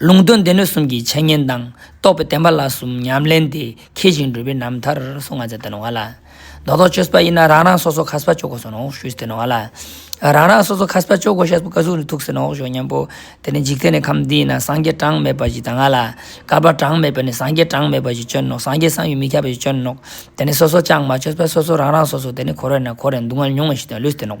ལུང་དོན་སྡེ་སྣོད་གསུམ་གྱི་འཆད་ཉན་དང་རྟོགས་པའི་བསྟན་པ་ལ་གསུམ་ཉམས་ལེན་དེ་མཁས་ཤིང་འགྲུབ་པའི་རྣམ་ཐར་སོགས་ང་ཚ་བསྟན་བ་ལ། རྡོག་རྡོག་ཆོས་པ་ཡིན་ན་རང་རང་སོ་སོ་ཁ་སྤ་གཅོག་གོ་ཟེར་ནའོ་ཞུས་བསྟན་བ་ལ། རང་རང་སོ་སོ་ཁ་སྤ་གཅོག་གོ་ཤ་སྤུ་ཀ་གཟུགས་ནི་ཐུག་ཟེར་ནའོ་ཞོག་སྙམ་པོ། དེ་ནས་འཇིག་རྟེན་ནི་ཁམས་འདི་ཡིན་ན་སངས་རྒྱས་གྲངས་མེད་པ་ཞིག་དང་ང་ལ། ཀ་པར་གྲངས་མེད་པ་ནི་སངས་རྒྱས་གྲངས་མེད་པ་ཞིག་སྤྱོད་ནོ་སངས་རྒྱས་བསམ་ཡུལ་མི་ཁྱབ་པ་ཞིག་སྤྱོད་ནོ། དེ་ནི་སོ་སོ་ཅང་མ་ཆོས་པ་སོ་སོ་རང་རང་སོ་སོ་དེ་ནི་གོ་རེ་ན་གོ་རེ་འདུག་ང་ལ་ཉུང་བ་ཞིག་དང་ལུས་བསྟན་ནོ།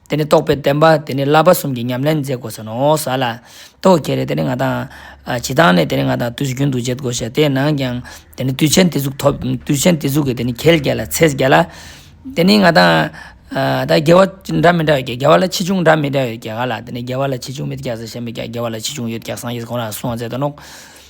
དེ་ནི་རྟོགས་པའི་བསྟན་པ་དེ་ནི་བསླབ་པ་གསུམ་གྱི་ཉམས་ལེན་མཛད་དགོས་ས་ནོ། ས་ལ། ཏོ། ཁྱེད་རེ་དེ་ནི་ང་དང། ཇི་ལྟར་ནས་དེ་ནི་ང་དང་དུས་སུ་རྒྱུན་དུ་འབྱེད་དགོས་ཤ་དེ་ནང་ཀྱང། དེ་ནི་དུས་ཆེན་དེ་གཟུགས་ཐོབ། དུས་ཆེན་དེ་གཟུགས་ཀྱི་དེ་ནི་གལ་བརྒྱད་ལ་ཚེས་བརྒྱད་ལ། དེ་ནི་ང་དང། ད་རྒྱལ་བ་འདྲ་མི་འདྲ་ཡོད་ཀྱེ་རྒྱལ་བ་ལ་ཆེ་ཆུང་འདྲ་མི་འདྲ་ཡོད་ཀྱེ་ག་ལ་དེ་ནི་རྒྱལ་བ་ལ་ཆེ་ཆུང་མེད་ཀྱེ་ས་ཞེས་མེད་ཀྱེ་རྒྱལ་བ་ལ་ཆེ་ཆུང་ཡོད་ཀྱེ་སངས་རྒྱས་སུ་གང་ལ་སོང་བ་ཟད་དོ་ནོག།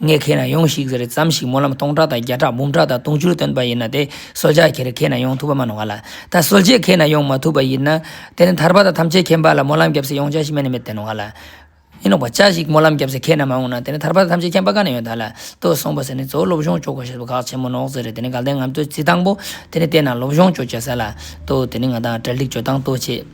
ངས་ཁྱེད་རང་ཡོང་ཞིག་ཟེར་ཙམ་ཞིག་སྨོན་ལམ་སྟོང་ཕྲག་དང་བརྒྱ་ཕྲག་འབུམ་ཕྲག་དང་དུང་ཕྱུར་བཏོན་པ་ཡིན་ན་དེ་གསོལ་ཇག་ཁྱེར་ཁྱེད་རང་ཡོང་ཐུབ་པ་མ་གནང་བ་ལ། ད་གསོལ་རྗེས་ཁྱེད་རང་ཡོང་མ་ཐུབ་པ་ཡིན་ན། དེ་ནི་ཐར་པ་དང་ཐམས་ཅད་མཁྱེན་པ་ལ་སྨོན་ལམ་བརྒྱབ་ཚེ་ཡོང་བྱ་ཞིག་མེད་ནི་མེད་དེ་གནང་བ་ལ། ཡིན་ནོ་བྱ་ཞིག་སྨོན་ལམ་བརྒྱབ་ཚེ་ཁྱེད་རྣམས་མ་འོངས་ན་དེ་ནི་ཐར་པ་དང་ཐམས་ཅད་མཁྱེན་པ་ག་ནས་ཡོང་ད་ལ། ལྟོས་སོང་བ་ཟེར་ནས་གཙོ་བོ་སློབ་སྦྱོང་ལྕོག་པ་ཞེས་པ་ཁག་ཆེན་མོ་ནོག་ཟེར་རེད་དེ་ནི་དགའ་ལྡན་ངམ་ལྟོས་རྩིས་སྟངས་པོ། དེ་ནི་བལྟས་ན་སློབ་སྦྱོང་ཅོ་བྱེད་ས་ལ་ལྟོས་དེ་ནི་ང་དང་བྲལ་འགྲིག་བྱོས་སྟངས་ལྟོས་བྱེད།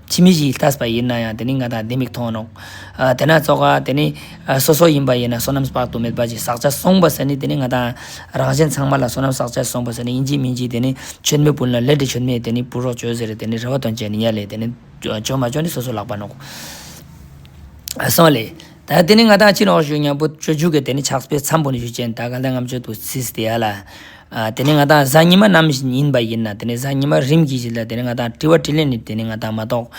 ཁྱིམ་མི་བཞིས་བལྟས་པ་ཡིན་ན་ཡང་དེ་ནི་ང་དང་ལྡེ་མིག་མཐོང་རུང། དེ་ན་བཙོག་ཁ་དེ་ནི་སོ་སོ་ཡིན་པ་ཡིན་ན་སོ་ནམ་དཔག་ཏུ་མེད་པ་ཞིག་ཟག་བཅས་སོང་བ་ཟེར་ནི་དེ་ནི་ང་དང་རང་གཞན་ཚང་མ་ལ་སོ་ནམ་ཟག་བཅས་སོང་བ་ཟེར་ནི་ཡིན་གཅིག་མིན་གཅིག་དེ་ནི་ཆོས་མེད་བུན་ལ་ལས་འདྲེ་ཆོས་མེད་དེ་ནི་བུ་རོགས་བྱོས་ཟེར་དེ་ནི་རེ་བ་དོན་བྱས་ནི་ཉལ་ལེ་དེ་ནི་བྱོས་མ་བྱོས་ནི་སོ་སོ་ལག་པ་ནོག། སོང་ལེ། ད་དེ་ནི་ང་དང་ཁྱི་ནོར་ཞུ་མྱང་པོ་ཁྱོད་བརྒྱུད་གི་དེ་ནི་ཕྱག་སྤེལ་འཚམས་པོ་ནས་ཞུ་ཅན་ད་ག་ལེར་ངམ་ཆོད་དུ་ཚིས་དེ་ཡ་ལ། དེ་ནི་ང་དང་གཟའ་ཉི་མ་རྣམ་བཞིན་ཡིན་པ་ཡིན་ན་དེ་ནི་གཟའ་ཉི་མ་རིམ་གྱིས་བྱེད་ལ་དེ་ནི་ང་དང་དྲི་བ་དྲིས་ལན་ནི་དེ་ནི་ང་དང་མ་གཏོགས་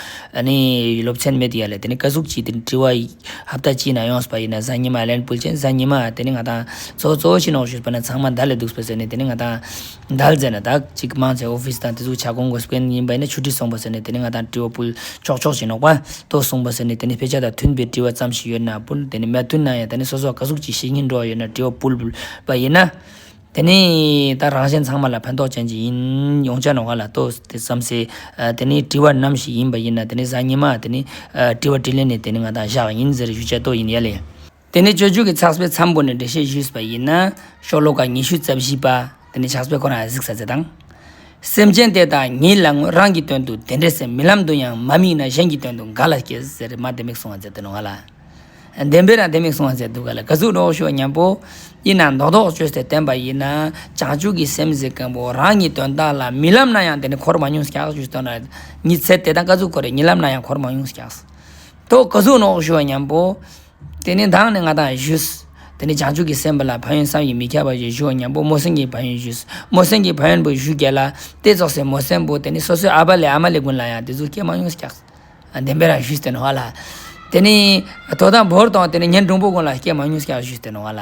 ནི་སློབ་ཚན་མེད་དེ་ཡ་ལ་དེ་ནི་བཀའ་ཟུར་གྱིས་དེ་ནི་དྲི་བ་ཧབ་ད་ཅིས་ན་ཡོང་སྲིད་པ་ཡིན་ན་གཟའ་ཉི་མ་ལན་སྤུལ་ཅན་གཟའ་ཉི་མ་དེ་ནི་ང་དང་ཚོགས་གཙོ་ཁྱི་ནོར་ཞུས་པ་ན་ཚང་མ་མདའ་ལས་སྡུག་སྲིད་པ་ཟེར་ནས་དེ་ནི་ང་དང། འདལ་མཛད་ནས་དག་ཅིག་དམངས་ཚེ་ཨོ་ཕིས་དང་དེ་ཚོ་བྱ་དགོངས་དགོས་སྤེན་ཡིན་པ་ནི་ཆུ་ཁྲི་སོང་པ་ཟེར་ནས་དེ་ནི་ང་དང་དྲི་བ་སྤུལ་ཆོག་ཆོག་བྱེད་ནོག་པ་ཏོ་སོང་པ་ཟེར་ནས་དེ་ནི་ཕེ་ཆ་དང་མཐུན་པའི་དྲི་བ་ཙམ་ཞིག་ཡོད་ན་སྤུལ་དེ་ནི་མ་མཐུན་ན་ཡང་ད་ནི་སོ་སོ་ག་གཟུགས་ཀྱི་ཤེས་ཉིན་འགྲོ་བ་ཡོད་ན་དྲི་བ་སྤུལ་བ་ཡིན་ན། དེ་ནི་ད་རང་གཞན་ཚང་མ་ལ་ཕན་ཐོག་ཅན་གྱི་ཡིན་ཡོང་བྱ་ནོག་ག་ལ་ཏོ་དེ་བསམ་སེ་དེ་ནི་དྲི་བ་ནམ་ཞིག་ཡིན་པ་ཡིན་ན་དེ་ནི་གཟའ་ཉི་མ་དེ་ནི་དྲི་བ་དྲི་ལན་ནི་དེ་ནི་ང་དང་བཞག་ཡིན་ཟེར་ཞུ་བྱ་ཏོ་ཡིན་ཡ་ལེ། དེ་ནས་སྤྱོད་འཇུག་གི་ཚགས་པའི་མཚམས་བོར་ནས་འགྲེལ་བཤད་ཞུས་པ་ཡིན་ན། ཤོ་ལོ་ཀ་ཉི་ཤུ་རྩ་བཞི་པ། དེ་ནས་ཕྱག་སྤེལ་ཁོ་རང་གཟིགས་ས་ཚེ་དང། སེམས་ཅན་དེ་དག་ཉིད་ལ་ངོས་རང་གི་དོན་དུ་དེ་འདྲའི་སེམས་མི་ལམ་དུ་ཡང་མ་དམིགས་ན་གཞན་གྱི་དོན་དུ་ག་ལ་སྐྱེ་ཟེར་མ་ལྡེ་མིག་སྲུང་བ་མཛད་དོ་ལ། ལྡེམ་པས་ན་ལྡེ་མིག་སྲུང་བ་མཛད་འདུག་ག་ལ་དགའ་ཚུལ་རོགས་ཞུ་བ་སྙམ་པོ། དབྱེ་ན་མདོ་ལྡོག་ཆོས་སྟེ་བསྟན་པ་ཡིན་ན། བྱང་ཆུབ་ཀྱི་སེམས་གཟིགས་མཁན་པོ་རང་གི་དོན་དག་ལ་མི་ལམ་ན་ཡང་དེ་ནི་འཁོར་མང་ཉུང་བཤགས་ཞུས་དོ་ལ། ཉི་ཚེ་དེ་དང་དཀའ་ཚུལ་ཁོ་རེ་མྱི་ལམ་ན་ཡང་འཁོར་མང་ཉུང་བཤགས། དོ་དགའ་ཚུལ་རོགས་ཞུ་བ་སྙམ་པོ། དེ་ནས་བདག་ནི་ང་དང་བཞུགས། དེ་ནས་བྱང་ཆུབ་ཀྱི་སེམས་དཔའ་ལ་ཕ་ཡོན་བསམ་ཡིད་མི་ཁྱབ་པ་ཞིག་བཞུགས་ཨ་སྙམ་པོ་རྨོ་སེང་གིས་ཕ་ཡོན་བཞུགས། རྨོ་སེང་གིས་ཕ་ཡོན་པོ་བཞུགས་རྒྱལ་ལ། ལྟས་རྫོགས་སའི་རྨོ་སེང་པོ་དེ་ནི་སོ་སོའི་ཨ་ཕ་ལས་ཨ་མ་ལས་ཀུན་ལ་ཡང་དེ་ཚོ་སྐྱེལ་མ་མྱོང་ཤག། བདེན་པའི་རང་བཞུགས་ཏེ་ནོ་བ་ལ། དེ་ནི། དོ་དང་བོར་དང་དེ་ནི་ཉན་འབྲིང་པོ་ཀུན་ལ་སྐྱེལ་མ་མྱོང་ཤག་བཞུགས་ཏེ་ནོ་བ་ལ།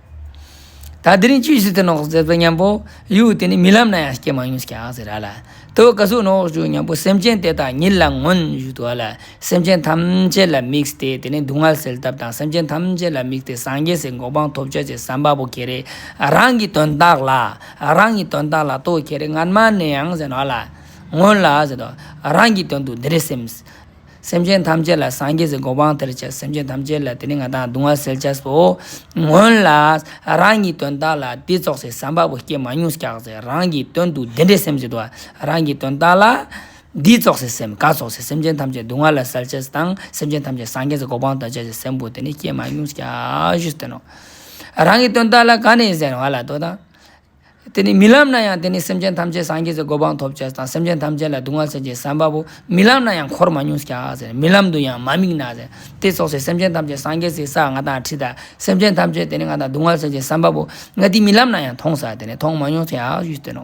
ད་དེ་རིང་ཅི་ཞིག་ཏུ་ནོག་ཟེར་བའི་སྙམ་པོ་གཡུག་དེ་ནི་རྨི་ལམ་ན་ཡང་སྐྱེས་མ་མྱོང་སྐྱག་ཟེར་ར་ལ་ལྟོས་དཀའ་ཟུག་ནོག་བཞུགས་སྙམ་པོ་སེམས་ཅན་དེ་དག་ཉིད་ལ་མངོན་བཞུགས་དུ་བ་ལ་སེམས་ཅན་ཐམས་ཅད་ལ་དམིགས་ཏེ་དེ་ནི་སྡུག་བསྔལ་སེལ་ཐབས་དང་སེམས་ཅན་ཐམས་ཅད་ལ་དམིགས་ཏེ་སངས་རྒྱས་སའི་འགོག་པང་ཐོབ་བྱ་ཅེས་བསམ་པ་པོ་ཁྱེད་རེ་རང་གི་དོན་དག་ལ་རང་གི་དོན་དག་ལ་ལྟོས་ཁྱེད་རེ་སྔར་མ་ནས་ཡང་ཟེར་ནོ་ལ་སྔོན་ལ་ཟེར་ནོ་རང་གི་དོན་དུ་འདི་རེ་སེམས། སེམས་ཅན་ཐམས་ཅད་ལ་སངས་རྒྱས་སུ་གོ་འཕང་ཐལ་ཆེ་སེམས་ཅན་ཐམས་ཅད་ལ་དེ་ནི་ང་དང་གདུང་བ་སེལ་བྱ་སོ། སྔོན་ལ་རང་གི་དོན་དག་ལ་དེ་རྫོགས་སའི་བསམ་པ་པོ་སྐྱེས་མ་མྱོང་སྐྱག་རྫས་རང་གི་དོན་དུ་དེ་འདྲའི་སེམས་བྱེད་དོ། རང་གི་དོན་དག་ལ་དེ་རྫོགས་སའི་སེམས་ག་རྫོགས་སའི་སེམས་ཅན་ཐམས་ཅད་གདུང་བ་ལ་སེལ་བྱེད་དང་སེམས་ཅན་ཐམས་ཅད་སངས་རྒྱས་སུ་གོ་འཕང་ཐལ་ཆེ་སེམས་པོ་དེ་ནི་སྐྱེས་མ་མྱོང་སྐྱག་བཞི་སྟོན་ནོ། རང་གི་དོན་དག་ལ་ག་ནས་གཞན་བ་ལ་དོ་དང། དེ་ནི་མི་ལམ་ན་ཡང་དེ་ནི་སེམས་ཅན་ཐམས་ཅད་སངས་རྒྱས་སུ་གོ་འཕང་ཐོབ་བྱེད་དང་སེམས་ཅན་ཐམས་ཅད་ལ་གདུང་བ་སེལ་བྱེད་བསམ་པ་པོ་མི་ལམ་ན་ཡང་འཁོར་མ་མྱོང་ཤག་ཟེར་མི་ལམ་དུ་ཡང་མ་དམིགས་ན་ཟེར་དེ་སོགས་སའི་སེམས་ཅན་ཐམས་ཅད་སངས་རྒྱས་སའི་ས་ང་དང་ཁྲི་དང་སེམས་ཅན་ཐམས་ཅད་དེ་ནི་ང་དང་གདུང་བ་སེལ་བྱེད་བསམ་པ་པོ་ང་དེ་མི་ལམ་ན་ཡང་མཐོང་ཟག་དེ་ནི་མཐོང་མ་མྱོང་ཤག་ཞུས་ཏེ་ནོ།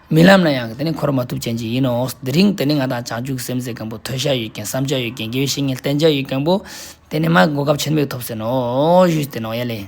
རྨི་ལམ་ན་ཡང་དེ་ནི་འཁོར་མ་ཐུབ་ཅན་གྱི་ཡིན་ནོ། དེ་རིང་དེ་ནི་ང་དང་བྱང་ཆུབ་ཀྱི་སེམས་ཟེར་མཁན་པོ་ཐོས་བྱ་ཡོད་མཁན་བསམ་བྱ་ཡོད་མཁན་དགེ་བའི་བཤེས་གཉེན་བསྟེན་བྱ་ཡོད་མཁན་པོ། དེ་ནི་མ་གོ་སྐབས་ཆེར་མེད་དུ་ཐོབ་ཟེར་ནོ། ཞུས་ཏེ་ནོངས་ཡལ་ལས།